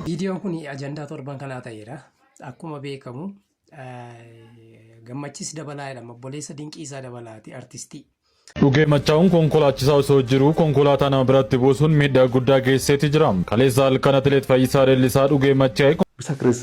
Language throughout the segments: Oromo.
Viidiyoon kun ajandaa torban kanaa ta'eera. Akkuma beekamu gammachiis dabalaa jedhama. Obboleessa Dinqiisaa Dabalaati artistii. Dhugee machaa'uun konkolaachisaa osoo jiruu konkolaataa nama biratti buusuun miidhaa guddaa geessiseeti jira. Kaleessa halkan atileet Fayyisaa Leellisaa dhugee machaa'e. Bisa Chris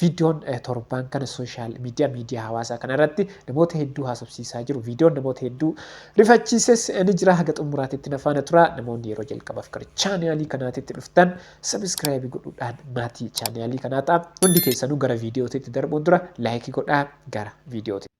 Viidiyoon torbaan kana sooshaal miidiyaa miidiyaa hawaasaa kana irratti namoota hedduu haasofsiisaa jiru. Viidiyoon namoota hedduu rifachiises ni jira. Haga xumuraatitti na faana tura. Namoonni yeroo jalqabaaf gara chaanaalii kanaatitti dhuftan sabiskiraayibii godhuudhaan maatii chaanaalii kanaa ta'a. Hundi keessanuu gara viidiyootitti darbuun dura laayikii godhaa gara viidiyootitti.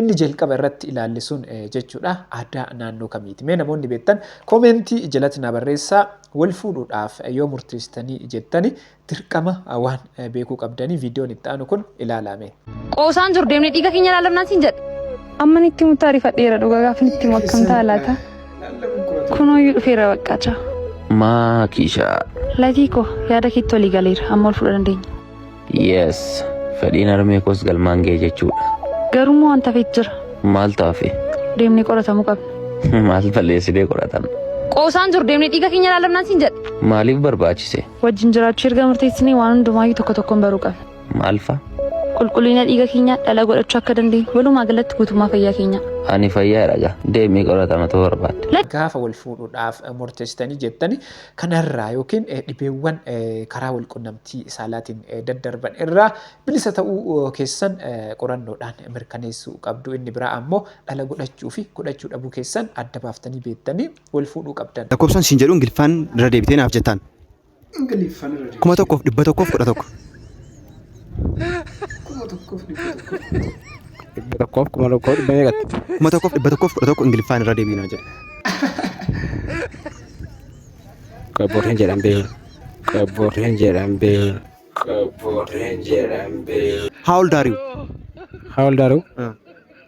Inni jalqaba irratti ilaalle sun jechuudha aadaa naannoo kamiiti? Mee namoonni beektan koomeentii jalatti naa barreessaa wal fuudhuudhaaf yoo murteessitanii jettani dirqama waan beekuu qabdanii viidiyoon itti aanu kun ilaalaa mee. Qoosaan jiru deemnee dhiiga keenya laallamnaan siin jedhe. Amman itti himutti ariifadheera dhugaa gaafan itti himu akkam ta'a laata? Kunooyyuu dhufeera baqqaa chaa. Maa kiishaa. Latii koo yaada keetti walii galeera amma wal fuudha dandeenya. Yes, fedhiin harmee koos galmaan ga'e jechuudha. Garuu immoo wanta feet jira. Maal taafe? Deemnee qoratamuu qabna. Maal balleessinee qoratamna? Qoosaan jiru deemnee dhiiga keenya ilaalamnaan siin jedhe. Maaliif barbaachise? Wajjin jiraachuu erga murteessinee waan hundumaayyuu tokko tokkoon baruu qabna. Maal fa'a? Qulqullina dhiiga keenyaa dhala godhachuu akka dandeenyu walumaa galatti guutummaa fayyaa keenyaa. Ani fayyaa dhaga. Deemii qoratama ta'uu barbaadde. Gaafa wal fuudhuudhaaf murteessitanii jettani kanarraa yookiin dhibeewwan karaa walqunnamtii saalaatiin daddarban irraa bilisa ta'uu keessan qorannoodhaan mirkaneessuu qabdu. Inni biraa ammoo dhala godhachuu fi godhachuu dhabuu keessan adda baaftanii beektanii wal fuudhuu qabdan. Lakkoofsan siin jedhu Ingiliffaan irra deebitee naaf jettaan. Ingiliffaan irra deebitee. Kuma tokkoof dhibba tokkoof kudha tokko. Kuma tokkoof dhibba tokko. Dhibba tokkoof kuma tokkoo dhibba meeqatti? Kuma tokkoof dhibba tokkoof kudha tokko Ingiliffaan irra deebiinaa jedhe. Qabboorreen jedhan beeku. Qabboorreen jedhan beeku. Qabboorreen jedhan beeku. How old are you? How old are you?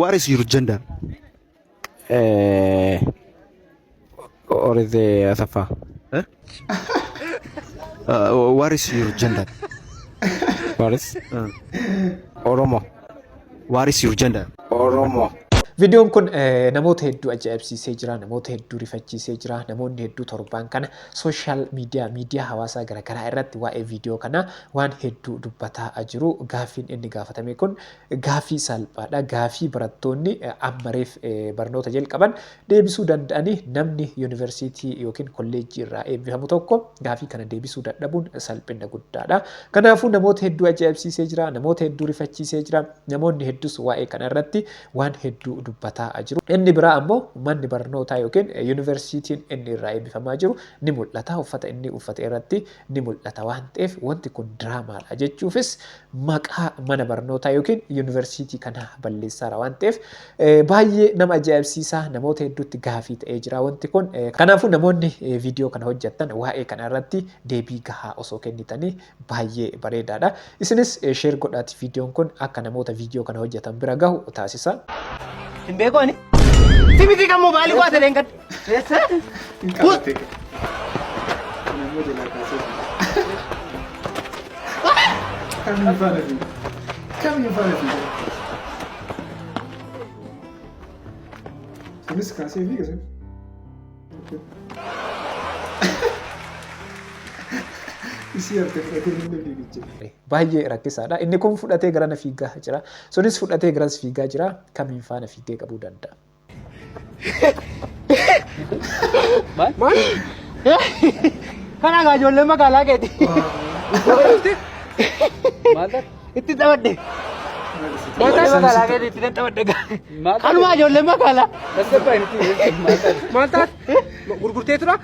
What is your gender? Eh, what is the Asafa? Huh? Uh, what is your gender? What is? Uh, Oromo. what is your gender? Oromo. Viidiyoon kun eh, namoota hedduu ajaa'ibsiisee jira, namoota hedduu rifachiisee jira, namoonni hedduu torbaan kana sooshaal miidiyaa, miidiyaa hawaasaa garaagaraa irratti waa'ee viidiyoo kanaa waan hedduu dubbataa jiru. Gaaffiin inni gaafatame kun Gaaffii salphaadha. Gaaffii barattoonni amma reef barnoota jalqaban deebisuu danda'ani. Namni yuunivarsiitii yookiin kolleejjii irraa eebbifamu tokko gaaffii kana deebisuu dadhabuun salphinna guddaadha. Kanaafuu namoota hedduu ajaa'ibsiisee jira, namoota hedduu rifachiisee jira, namoonni hedduus waa'ee kana irratti waan hedduu dubbataa jiru. Inni biraa ammoo manni barnootaa yookiin yuunivarsiitiin inni irraa eebbifamaa jiru ni mul'ata. Uffata inni uffate irratti ni mul'ata waan ta'eef wanti kun diraamaadha jechuufis maqaa mana barnootaa yookiin yuunivarsiitii kanaa balleessaara waan ta'eef baay'ee nama ajaa'ibsiisaa namoota hedduutti gaafii ta'ee jira wanti kun. Kanaafuu namoonni viidiyoo kana hojjettan waa'ee kana irratti deebii gahaa osoo kennitanii baay'ee bareedaadha. Isinis sheer godhaati viidiyoon kun akka namoota viidiyoo kana hojjetan bira gahu taasisa. Hin beeku ani. Simitii kan moobaayilii waa ta'e hin gadda. Kunis kaasee fi gasee. Isii harka fudhatee namni fiigicha. Baay'ee rakkisaadha. Inni kun fudhatee garana fiigaa jira. Sunis fudhatee garas fiigaa jira. Kamiin faana fiigee qabuu danda'a. Kan hagaa ijoollee magaalaa keeti. Itti taphadhe. Ijoollee magaalaa keeti itti nan taphadhe. Kanumaa ijoollee magaalaa. Maal taate? Gurgurtee tura?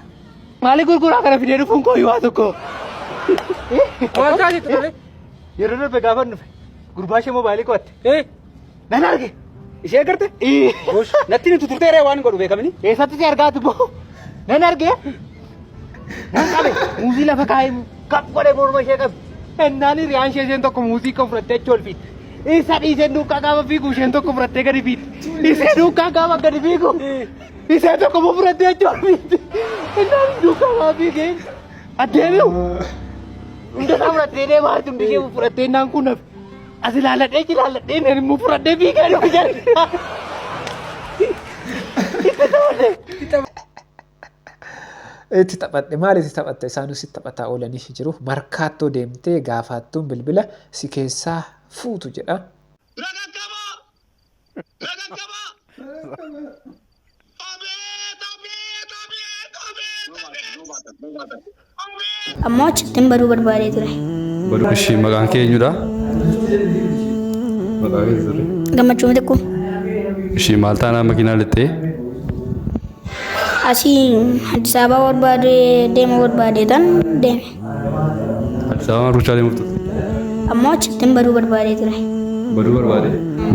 Maali gurguraa kana fidee dhufuun koo yoo tokko. Maal taate ture? Yeroo darbe gaafa dhufe gurbaa ishee moobaayilii qo'atte. Nan arge. Ishee garte? Natti nuti turtee ree waan godhu beekamini. Eessatti si argaati boo? Nan arge. Nan qabe. Muuzii lafa kaa'ee kap godhee morma ishee qabe. Ennaan hiriyaan ishee isheen tokko muuzii kan fudhattee achi ol fiitti. Isa dhiiseen duukaa gaafa fiigu isheen tokko fudhattee gadi fiitti. Ishee duukaa gaafa gadi fiigu. Ishee tokko immoo fudhattee achi ol fiitti. Ennaan duukaa gaafa fiigee addeemiu. Hunda isaa fudhattee deemaa jirti hundi ishee fudhattee ennaan kun hafe. As ilaaladhee jilaaladhee nan immoo fudhadhee fiigaa dhufe jedhe. Itti taphate. Itti taphadhe maal itti taphatta isaanuu si taphataa oolaniif jiru markaattoo deemtee gaafaattuun bilbila si keessaa fuutu jedha. Nagaggabaa! Abeet! Abeet! Abeet! Abeet! Abeet! Ammoo achittiin baduu barbaadee ture. Baduu ishii maqaan kee eenyudha? Maqaa kee sirrii. Gammachuu mitikkuu. Ishii maal taanaa makiinaa lixxee? Asii Addis Ababaa barbaadee deema barbaadee tan deeme. Addis Ababaan ruuchaalee murtu. Ammoo achittiin baduu barbaadee ture. Baduu barbaade.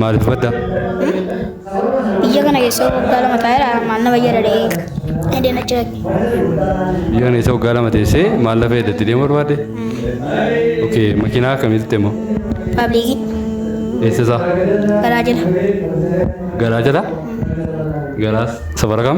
Maaliif badda? Biyya kana keessa waggaa lama taa'eera maal na fayyada dha'ee hedeen achi dhaqe. Biyya kana isa waggaa lama teessee maal lafa eeddatti deemu barbaade? Okay, makiinaa akkamitti immoo? Paabliikii Eessa isaa? garaa jala. Garaa jala? Garaas safara kam?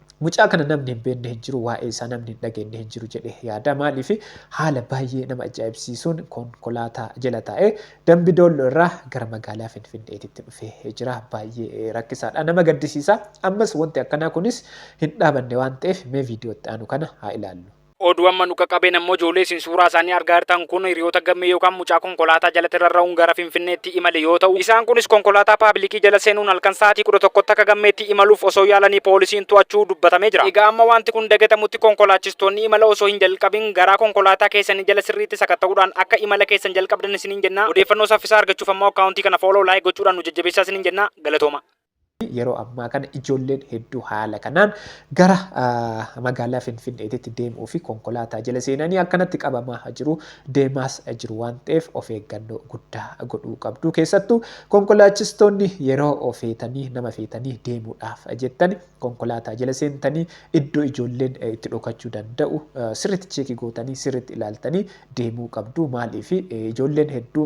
Mucaa kana namni hin beekne hin jiru waa'ee isaa namni hin dhageenye hin jiru jedhee yaada maaliif haala baay'ee nama ajaa'ibsiisuun konkolaataa jala taa'ee dambi doollo irraa gara magaalaa finfinneetitti dhufee jira baay'ee rakkisaadha nama gaddisiisa ammas wanti akkanaa kunis hin dhaabanne waan ta'eef mee viidiyootti aanu kana haa ilaallu. Oduu amma nu qaqqabeen ammoo ijoollee isin suuraa isaanii argaa jirtan kun hiriyoota Gammee yookaan mucaa konkolaataa jalatti rarra'uun gara Finfinneetti imale yoo ta'u, isaan kunis konkolaataa paabilikii jala seenuun halkan sa'aatii 11tti akka Gammeetti imaluuf osoo yaalanii poolisiin to'achuu dubbatamee jira. Egaa amma waanti kun dagatamutti konkolaachistoonni imala osoo hin jalqabin garaa konkolaataa keessanii jala sirriitti sakatta'uudhaan akka imala keessan jalqabdan isiniin jenna. Odeeffannoo saffisaa argachuuf ammoo akkaawuntii kana follow, like gochuudhaan nu jajjabeessaa isiniin jenna. Galatoomaa! yeroo ammaa kana ijoolleen hedduu haala kanaan gara magaalaa Finfinneetitti deemuu fi konkolaataa jala seenanii akkanatti qabamaa jiru deemaas jiru waan ta'eef of eeggannoo guddaa godhuu qabdu keessattuu konkolaachistoonni yeroo feetanii nama feetanii deemuudhaaf jettani konkolaataa jala seentanii iddoo ijoolleen itti dhokachuu danda'u sirriitti cheekii gootanii sirriitti ilaaltanii deemuu qabdu maaliif ijoolleen hedduu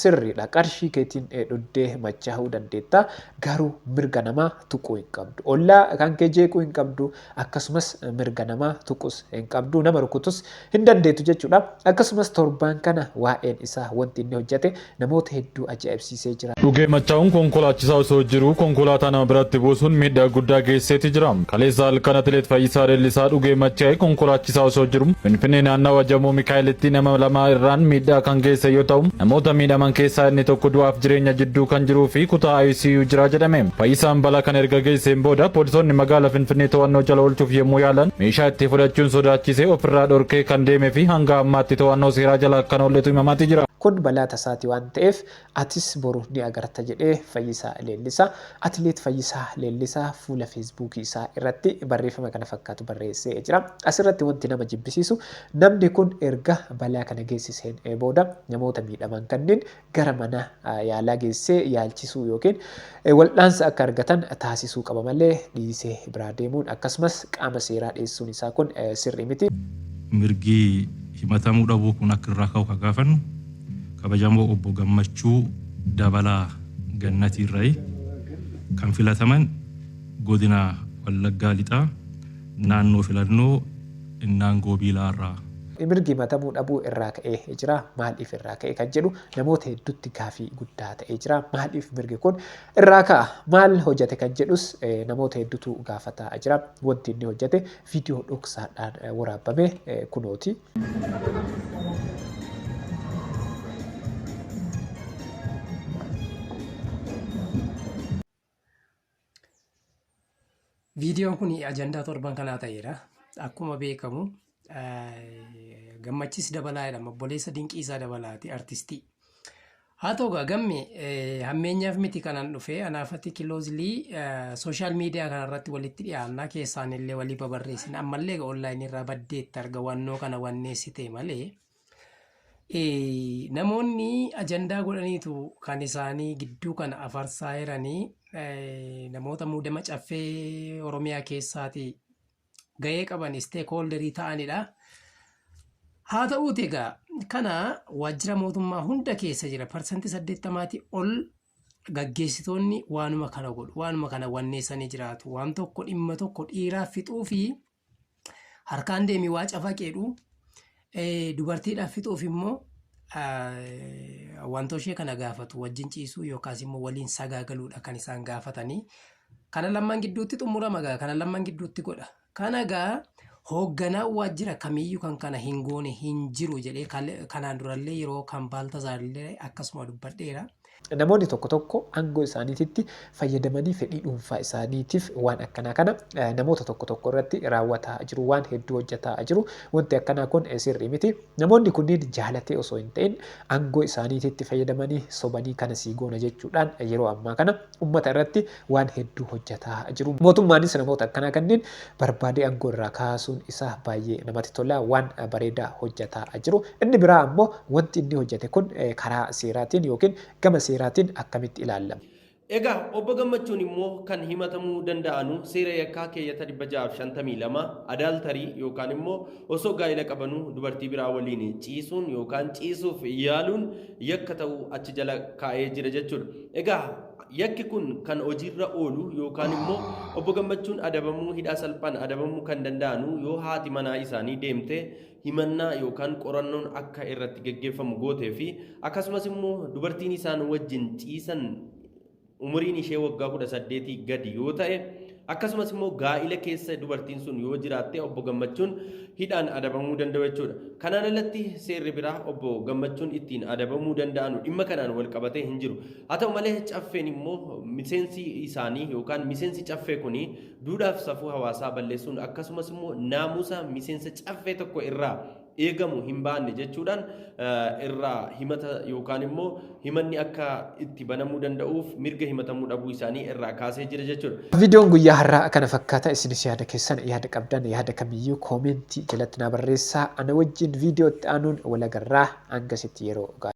Sirriidha qarshii keetiin dhugdee machaa'uu dandeetta garuu mirga namaa tuquu hin qabdu. Ollaa kan kee jeequu hin qabdu akkasumas mirga namaa tuqus hin qabdu nama rukutus hin dandeetu jechuudha. Akkasumas torbaan kana waa'een isaa wanti inni hojjate namoota hedduu ajaa'ibsiisee jira. Dhugee machaa'uun konkolaachisaa osoo jiruu konkolaataa nama biratti buusuun miidhaa guddaa geessiseeti jira. Kaleessa halkan Atileet Fayyisaa Leellisaa dhugee machaa'e konkolaachisaa osoo jiru Finfinnee naannawa Jamoo Mikaa'elitti nama lama irraan miidhaa kan geesse yoo ta'u, namoota miidhaman keessaa inni tokko du'aaf jireenya jidduu kan jiruu fi kutaa ICU jira jedhame. Fayyisaan balaa kana erga geesseen booda poolisoonni magaala Finfinnee to'annoo jala oolchuuf yommuu yaalan meeshaa itti fudhachuun sodaachisee ofirraa dhorkee kan deeme fi hanga ammaatti to'annoo seeraa jala akka hin oolletu himamaati jira. Kun balaa tasaati waan ta'eef Atis boru ni agarta jedhee Fayyisaa Leellisaa. Atileet Fayyisaa Leellisaa fuula Feesbuukii isaa irratti barreeffama kana fakkaatu barreessee jira. As irratti wanti nama jibbisiisu namni kun erga balaa kana geessiseen booda namoota miidhaman kanneen gara mana yaalaa geessee yaalchisuu ykn waldhaansa akka argatan taasisuu qaba malee dhiisee biraa deemuun akkasumas qaama seeraa dhiyeessuun isaa kun sirrii miti. Mirgi himatamuu dhabuu kun akka irraa ka'u kan gaafannu kabajamoo Obbo Gammachuu Dabalaa Gannatii irrayi. Kan filataman Godina Wallaggaa Lixaa Naannoo Filannoo Innaangoo Biilaa irraa. Mirgi himatamuu dhabuu irraa ka'ee jiraa? Maaliif irraa ka'e kan jedhu namoota hedduutti gaafii guddaa ta'ee jira. Maaliif mirgi kun irraa ka'a? Maal hojjate kan jedhus namoota hedduutu gaafataa jira. Wanti inni hojjate viidiyoo dhoksaadhaan waraabame kunooti. Viidiyoon kun ajandaa torban kanaa ta'eera. Akkuma beekamu eh, gammachiis dabalaa jedhama. Obboleessa dinqiisaa dabalaati artistii. Haa ta'u egaa gamme eh, hammeenyaaf miti kanan dhufe anaafatti kiloozilii sooshaal miidiyaa kanarratti walitti dhiyaannaa keessaan illee walii babarreessin ammallee egaa onlaayinii irraa baddeetti arga wannoo kana wanneessitee malee. Namoonni ajandaa godhaniitu kan isaanii gidduu kana afarsaa jiranii namoota muudama caffee Oromiyaa keessaati gahee qaban isteekhooldarii ta'anidha. Haa ta'uuti egaa kana waajjira mootummaa hunda keessa jira parsantii saddeettamaatii ol gaggeessitoonni waanuma kana godhu waanuma kana wanneessanii jiraatu waan tokko dhimma tokko dhiiraa fixuu fi Harkaan deemi waa cafaqeedhu. Dubartiidhaaf fixuuf immoo wantoo ishee kana gaafatu wajjin ciisuu yookaas immoo waliin sagaagaluudha kan isaan gaafatanii. Kana lamman gidduutti xumurama gaa kana lamman gidduutti godha. Kana gaa hoogganaa waajjira kamiyyuu kan kana hin goone hin jiru jedhee kanaan durallee yeroo kan baaltazaarillee akkasuma dubbadheera. Namoonni tokko tokko aangoo isaaniititti fayyadamanii fedhii dhuunfaa isaaniitiif waan akkanaa kana namoota tokko tokko irratti raawwataa jiru, waan hedduu hojjataa jiru. Wanti akkanaa kun sirrii miti. Namoonni kunniin jaalatee osoo hin ta'in aangoo isaaniititti fayyadamanii sobanii kana sii goona jechuudhaan yeroo ammaa kana Ummata irratti waan hedduu hojjataa jiru. Mootummaanis namoota akkanaa kanneen barbaadee aangoo irraa kaasuun isaa baayyee namatti tola. Waan bareedaa hojjataa jiru. Inni biraa ammoo wanti inni hojjate kun karaa seeraatiin yookiin gama seeraatiin akkamitti ilaallama? Egaa Obbo Gammachuun immoo kan himatamuu danda'anu seera yakkaa keeyyata 652 adultery yookaan immoo osoo gaa'ila qabanuu dubartii biraa waliin ciisuun yookaan ciisuuf yaaluun yakka ta'u achi jala kaa'ee jira jechuudha. Egaa yakki kun kan hojiirra oolu yookaan immoo obbo Gammachuun adabamuu hidhaa salphaan adabamuu kan danda'anu yoo haati manaa isaanii deemte himannaa yookaan qorannoon akka irratti geggeeffamu gootee fi akkasumas immoo dubartiin isaan wajjin ciisan umuriin ishee waggaa 18 gadi yoo ta'e akkasumas immoo gaa'ila keessa dubartiin sun yoo jiraatte obbo Gammachuun hidhaan adabamuu danda'u jechuudha. Kanaan alatti seerri biraa obbo Gammachuun ittiin adabamuu danda'anu dhimma kanaan wal qabatee hin jiru. Haa ta'u malee caffeen immoo miseensi isaanii yookaan miseensi caffee kuni duudhaaf safuu hawaasaa balleessuun akkasumas immoo naamusa miseensa caffee tokko irraa eegamu hin baanne jechuudhaan irraa himata yookaan immoo himanni akka itti banamuu danda'uuf mirga himatamuu dhabuu isaanii irraa kaasee jira jechuudha. Viidiyoon guyyaa har'aa kana fakkaata. Isinis yaada keessan yaada qabdan yaada kamiyyuu koomentii jalatti naa barreessaa. Ana wajjin viidiyoo itti aanuun wal agarraa. Hangasitti yeroo gaarii.